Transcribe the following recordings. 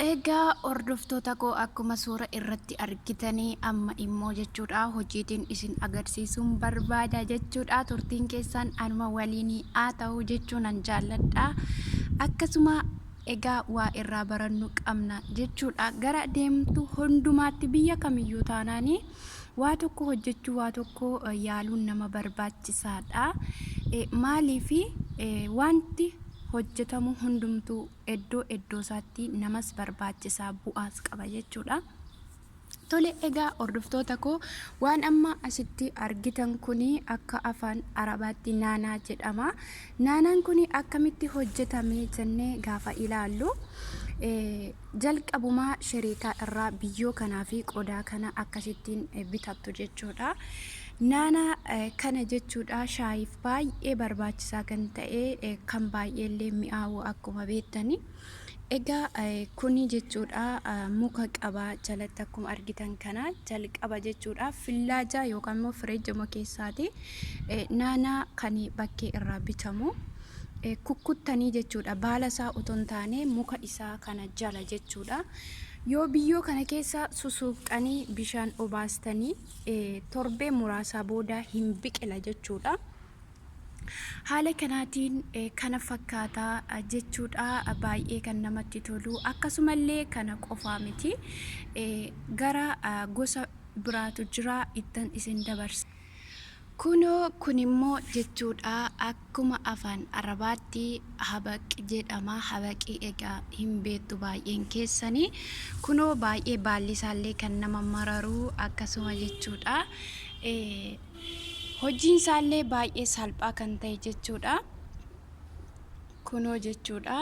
Egaa hordoftoota koo akkuma suura irratti argitanii amma immoo jechuudha hojiitiin isin agarsiisuun barbaada jechuudha turtiin keessaan anuma waliin haa ta'u jechuu nan jaalladha akkasuma egaa waa irraa barannu qabna jechuudha gara deemtu hundumaatti biyya kamiyyuu taanaanii waa tokko hojjechuu waa tokko yaaluun nama barbaachisaadha maaliif wanti hojjetamu hundumtuu eddoo eddoosaatti namas barbaachisa bu'aas qaba jechuudha. Tole egaa hordoftoota koo waan amma asitti argitan kuni akka afaan arabaatti naanaa jedhama. Naanaan kuni akkamitti hojjetame jennee gaafa ilaallu Jalqabumaa sheriikaa irraa biyyoo kanaa fi qodaa kana akkasittiin bitattu jechuudha. Naana kana jechuudha shaayiif baay'ee barbaachisaa kan ta'e kan baay'ee illee mi'aawu akkuma beektani. Egaa kuni jechuudha muka qaba jalatti akkuma argitan kana jalqaba jechuudha fillaajaa yookaan immoo fireejjuma keessaati naanaa kan bakkee irraa bitamu. kukkuttanii jechuudha. Baala isaa otoo hin taane muka isaa kana jala jechuudha. Yoo biyyoo kana keessa susuuqxanii bishaan obaastanii torbee muraasaa booda hin biqila jechuudha. Haala kanaatiin kana fakkaata jechuudha. Baay'ee kan namatti tolu. Akkasumallee kana qofaa miti. Gara gosa biraatu jira ittan isin dabarsa. Kunoo, kun immoo jechuu dha, akkuma afaan Arabaatti habaq jedhama, habaqii egaa hin beektu baay'een keessanii, kunoo baay'ee baalli isaa illee kan nama mararu akkasuma jechuu dha. Hojiin isaa illee baay'ee salphaa kan ta'e jechuu dha. Kunoo jechuu dha.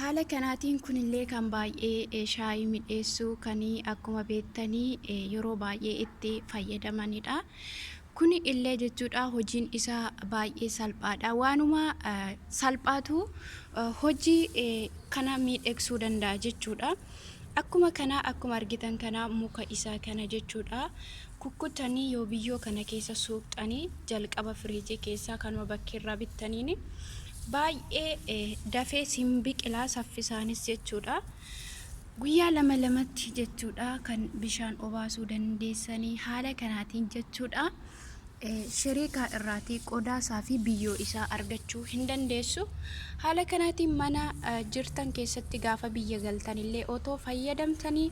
Haala kanaatiin kunillee kan baay'ee shaayii midheessu kan akkuma beektanii yeroo baay'ee itti fayyadamanidha. Kuni illee jechuudha hojiin isaa baay'ee salphaadha. Waanuma salphaatu hojii kana miidheeksuu danda'a jechuudha. Akkuma kana akkuma argitan kana muka isaa kana jechuudha. Kukkutanii yoo biyyoo kana keessa suuqxanii jalqaba firiijii keessaa kanuma bakkeerraa bittaniin baay'ee dafees hin biqilaa saffisaanis jechuudha. Guyyaa lama lamatti jechuudha kan bishaan obaasuu dandeessanii haala kanaatiin jechuudha. Shiriikaa irraatii qodaa isaa fi biyyoo isaa argachuu hin dandeessu. Haala kanaatiin mana jirtan keessatti gaafa biyya galtan illee otoo fayyadamtanii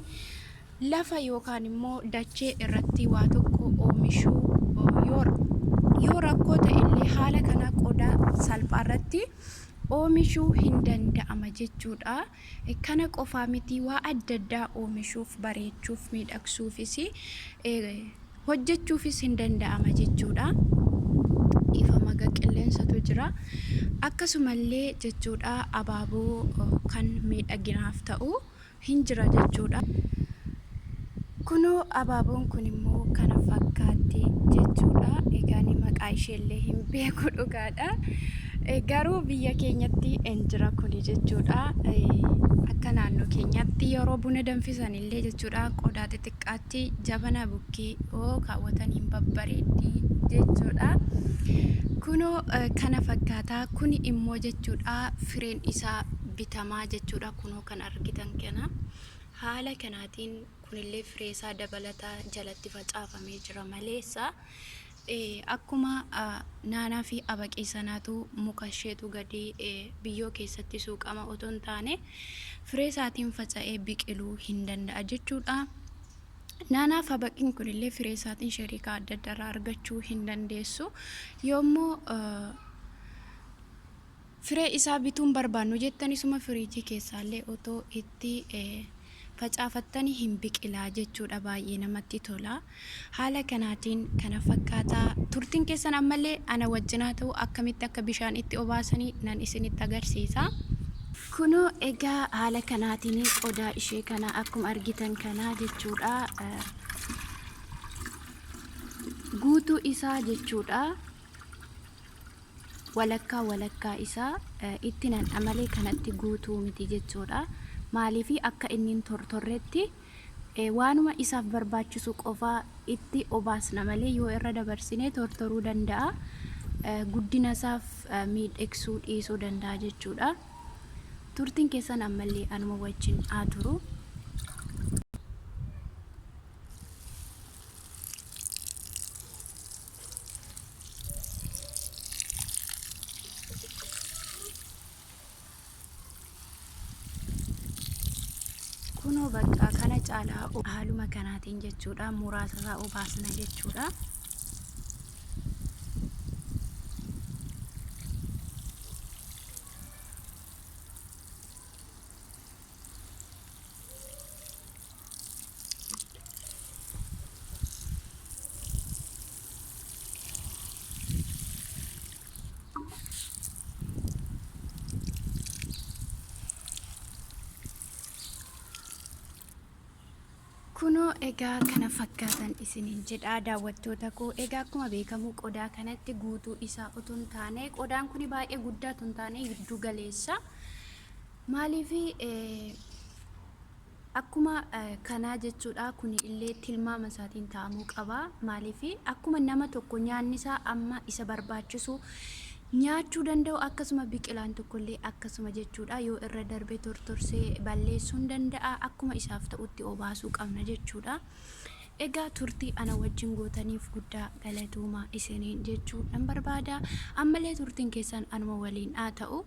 Lafa yookaan immoo dachee irratti waa tokko oomishuu yoo, yoo rakkoo ta'e illee haala kana qodaa salphaa irratti oomishuu hin danda'ama jechuudha. Kana qofaa miti waa adda addaa oomishuuf, bareechuuf, miidhagsuufis hojjechuufis hin danda'ama jechuudha. Dhiifama ga qilleensatu jira. Akkasumallee jechuudha abaaboo kan miidhaginaaf ta'u. hin jira jechuudha. Kunoo abaaboon kun immoo kana fakkaatti jechuudha. Egaa ani maqaa isheellee hin beeku dhugaadha. Eh, Garuu biyya keenyatti hin jira kuni jechuudha. Eh, Akka naannoo keenyaatti yeroo buna danfisan illee jechuudha qodaa xixiqqaatti jabana bukkee yoo kaawwatan hin babbareeddi jechuudha. Kunoo eh, kana fakkaata. Kuni immoo jechuudha fireen isaa bitamaa jechuudha. Kunoo kan argitan kana. Haala kanaatiin kunillee fireesaa dabalataa jalatti facaafamee jira maleessa. Akkuma naanaa fi abaqii sanaatu muka isheetu gadi biyyoo keessatti suuqama otoo hin taane fireesaatiin faca'ee biqiluu hin danda'a jechuudha. Naanaaf habaqiin kunillee firee isaatiin shariikaa adda addaarraa argachuu hin dandeessu. Yoommoo Firee isaa bituu hin barbaannu jettani suma firiijii keessaallee otoo itti facaafattani hin biqilaa jechuudha baay'ee namatti tola. Haala kanaatiin kana fakkaata. Turtiin keessan ammallee ana wajjin haa ta'u akkamitti akka bishaan itti obaasani nan isinitti agarsiisa. Kunoo egaa haala kanaatiin qodaa ishee kana akkuma argitan kana jechuudha guutuu isaa jechuudha. walakkaa walakkaa isaa itti nan'a malee kanatti guutuu miti jechuudha. Maaliif akka inni hin tortorretti waanuma isaaf barbaachisu qofaa itti obaasna malee yoo irra dabarsinee tortoruu danda'a. Guddina isaaf miidhagsuu dhiisuu danda'a jechuudha. Turtiin keessan ammallee anuma wajjin haa turu. kunoo bakka kana caalaa haaluma kanaatiin jechuudha muraasa isaa obaasna jechuudha. Kunoo egaa kana fakkaatan isiniin jedha daawwattoota koo egaa akkuma beekamu qodaa kanatti guutuu isaa otoo hin taane qodaan kun baay'ee guddaa otoo hin taane giddu galeessa maaliif Akkuma kanaa jechuudha kuni illee tilmaama isaatiin taa'amuu qaba. Maaliif akkuma nama tokko nyaanni isaa amma isa barbaachisu nyaachuu danda'u akkasuma biqilaan tokko illee akkasuma jechuudha yoo irra darbe tortorsee balleessuu hin danda'a akkuma isaaf ta'utti obaasuu qabna jechuudha. Egaa turtii ana wajjin gootaniif guddaa galatooma isiniin jechuu nan barbaada. Ammallee turtiin keessan anuma waliin haa ta'u.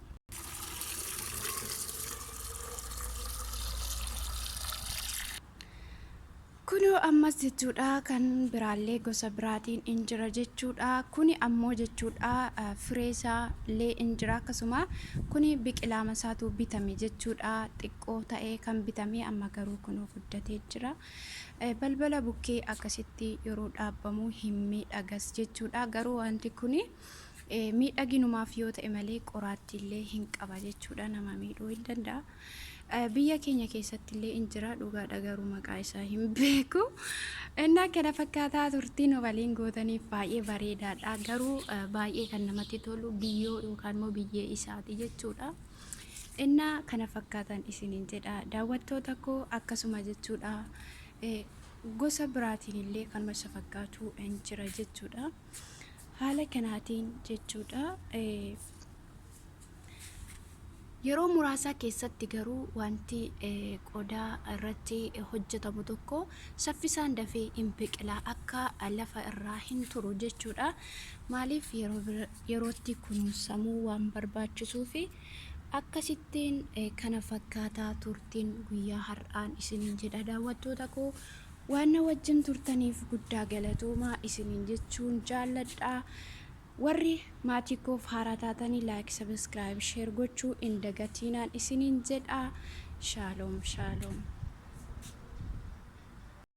Kunoo ammas jechuudha kan biraallee gosa biraatiin in jira jechuudha. Kuni ammoo jechuudha firee isaa illee in jira akkasuma kuni biqilaama isaatu bitame jechuudha. Xiqqoo ta'ee kan bitame amma garuu kunoo guddatee jira. Balbala bukkee akkasitti yeroo dhaabbamu hin miidhagas jechuudha. Garuu wanti kuni. Miidhaginumaaf yoo ta'e malee qoraattiillee hin qaba jechuudha nama miidhuu hin danda'a. Biyya keenya keessattillee in jira dhugaadha garuu maqaa isaa hin beeku. Innaa kana fakkaataa turtii nu waliin gootaniif baay'ee bareedaadha garuu baay'ee kan namatti tolu biyyoo yookaan immoo biyyee isaati jechuudha. Innaa kana fakkaatan isiniin jedha daawwattoota koo akkasuma jechuudha. Gosa biraatiin illee kanuma isa fakkaatu hin jira jechuudha. Haala kanaatiin jechuudha. Yeroo muraasaa keessatti garuu wanti qodaa irratti hojjetamu tokko saffisaan dafee hin biqila akka lafa irraa hin turu jechuudha. Maaliif yerootti kunuunsamuu waan barbaachisuu fi akkasittiin kana fakkaataa turtiin guyyaa har'aan isiniin jedha daawwattoota koo Waan na wajjin turtaniif guddaa galatoomaa isiniin jechuun jaalladha. Warri maatii koof haaraa taatanii like, subscribe, share gochuu hin dagatiinaan isiniin jedha. Shaalom shaalom.